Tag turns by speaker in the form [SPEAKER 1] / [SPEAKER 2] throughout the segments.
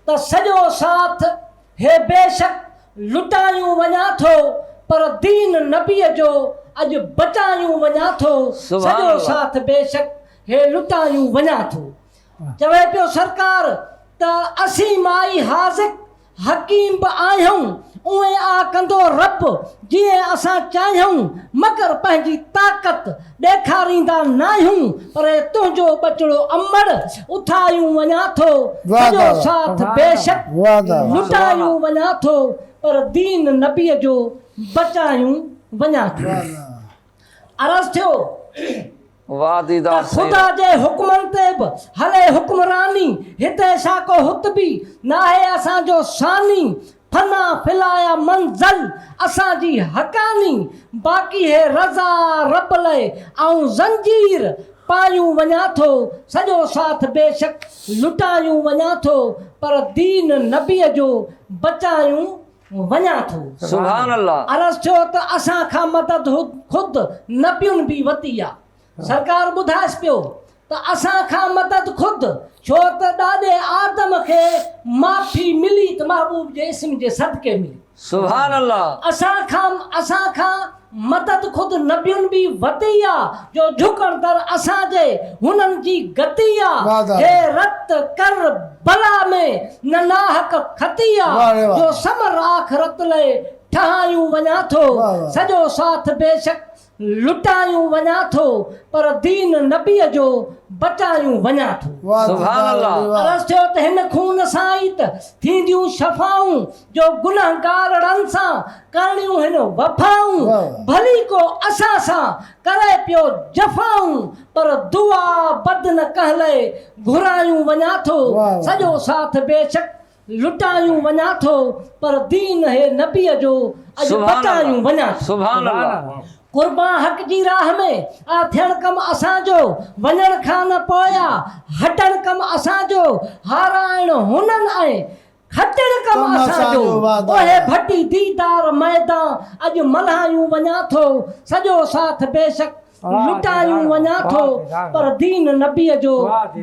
[SPEAKER 1] ته سڄو ساٿ هي بيشڪ لٽايون وڃان ٿو پر دين نبيء جو اڄ بچايون وڃان ٿو سڄو ساٿ بيشڪ هي لٽايون وڃان ٿو چوي پيو سرڪار ته اسين مائي حاذق حڪيم به آهيون اونئين آ ڪندو رب جيئن اسان چاهيون مگر پنهنجي طاقت ڏيکاريندا ناهيون پر تنهنجو ٻچڙو امڙ اٿايون وڃان ٿو سڄو ساٿ بيشڪ لٽايون وڃان ٿو پر دين نبي جو بچايون وڃان ٿو عرض ٿيو ته خدا جي حڪمن تي به هلي حڪمراني هتي ساڪو هت به ناهي اسان جو ثاني فنا فلايا منزل اسان جي حقاني باقي هي رضا رب لئه آئون زنجير پايون وڃان ٿو سڄو ساٿ بيشڪ لٽايون وڃان ٿو پر دين نبيء جو بچايون وڃان ٿو.
[SPEAKER 2] عرض ٿيو ته اسان
[SPEAKER 1] کان مدد خود نبين به وتي آ سرڪار ٻڌائيس پيو ته اسان کان مدد خود ڇو ته ڏاڏي آدم کي معافي ملي ته محبوب جي اسم جي صدقي ملي. سبحان الله.
[SPEAKER 2] اسان کان اسان
[SPEAKER 1] کان مدد خود نبين بي وتي آ جو جهڪڻ در اسان جي هنن جي گتي آ هي رت ڪر بلا ۾ نه ناحق کتي آ جو ثمر آخرت لئي ٺهايون وڃان ٿو سڄو ساٿ بيشڪ لٽايون وڃان ٿو پر دين نبيء جو بچايون وڃان ٿو. سبحان الله.
[SPEAKER 2] عرض ٿيو ته هن
[SPEAKER 1] خون سان ئي ته ٿينديون شفائون جو گنهگارڙن سان ڪرڻيون هن وفائون ڀلي ڪو اسان سان ڪري پيو جفائون پر دعا بد نه ڪنهن لئه گهرايون وڃان ٿو سڄو ساٿ بيشڪ لٽايون وڃان ٿو پر دين هي نبيء جو اڄ بتايون وڃان ٿو.
[SPEAKER 2] قربان حق
[SPEAKER 1] جي راهه ۾ آ ٿيڻ ڪم اسان جو وڃڻ کان نه پوء آ هٽڻ ڪم اسان جو هارائڻ هنن ۽ کٽڻ ڪم اسان جو اهي ڀٽي ديدار ميدان اڄ ملهايون وڃان ٿو سڄو ساٿ بيشڪ لٽايون وڃان ٿو پر دين نبيء جو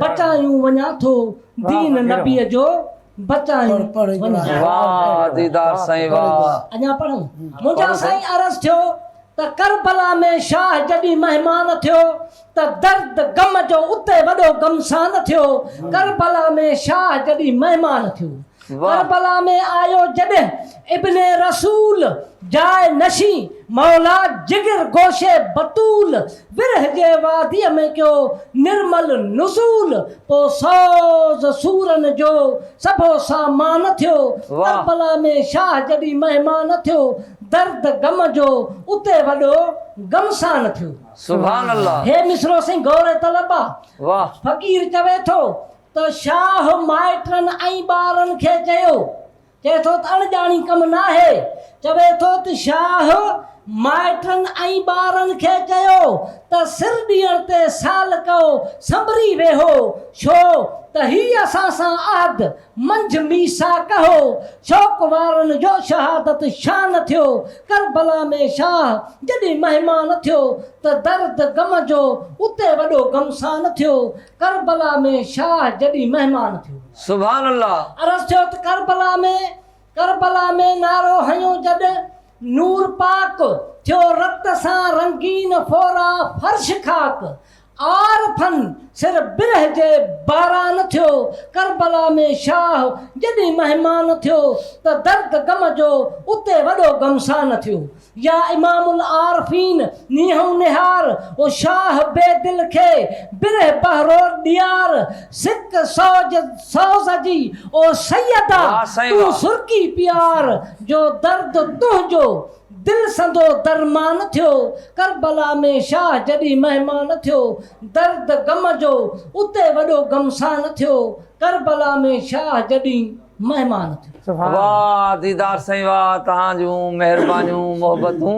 [SPEAKER 1] بچايون وڃان ٿو دين نبيء جو بچايون وڃان ٿو. واه ديدار
[SPEAKER 2] سائين واه. اڃا پڙهون؟
[SPEAKER 1] منهنجا سائين عرض ٿيو ته ڪربلا ۾ شاهه جڏهن مهمان ٿيو ته درد غم جو اتي وڏو غمسان ٿيو ڪربلا ۾ شاهه جڏهن مهمان ٿيو ڪربلا ۾ آيو جڏهن ابن رسول جاء نشين مولا جگر گوشه بتول ورهه جي واديء ۾ ڪيو نرمل نزول پوء سوز سورن جو سڀو سامان ٿيو ڪربلا ۾ شاهه جڏهن مهمان ٿيو درد غم جو اتي وڏو غمسان ٿيو. هي
[SPEAKER 2] مصرعو سائين غور
[SPEAKER 1] طلب آ. فقير
[SPEAKER 2] چوي
[SPEAKER 1] ٿو ته شاهه مائٽن ۽ ٻارن کي چيو، چئي ٿو ته اڻ ڄاڻي ڪم ناهي، چوي ٿو ته شاهه مائٽن ۽ ٻارن کي چيو ته سر ڏيڻ تي سالڪئو سنبري ويهو، ڇو ته هي اسان سان عهد منجهه ميثاق هو، شوق وارن جو شهادت شان ٿيو، ڪربلا ۾ شاهه جڏهن مهمان ٿيو ته درد غم جو اتي وڏو غمسان ٿيو، ڪربلا ۾ شاهه جڏي مهمان ٿيو. سبحان الله.
[SPEAKER 2] عرض ٿيو ته
[SPEAKER 1] ڪربلا ۾ ڪربلا ۾ نعرو هنيو جڏ نور پاڪ ٿيو رت سان رنگين ڦورا فرش خاڪ عارفن سر برهه جي باران ٿيو ڪربلا ۾ شاهه جڏي مهمان ٿيو ته درد غم جو اتي وڏو غمسان ٿيو. يا امام العارفين نيهون نهار و شاهه بي دل کي بره بهرور ڏيار سڪ سوج سوز جي او سيدا تون سرڪي پيار جو درد تنهنجو دل سندو درمان ٿيو ڪربلا ۾ شاهه جڏهن مهمان ٿيو درد غم جو اتي وڏو غمسان ٿيو ڪربلا ۾ شاهه جڏهن مهمان
[SPEAKER 2] ٿيو. واھ ديدار سائين واھ تهان جون
[SPEAKER 1] مهربانيون
[SPEAKER 2] محبتون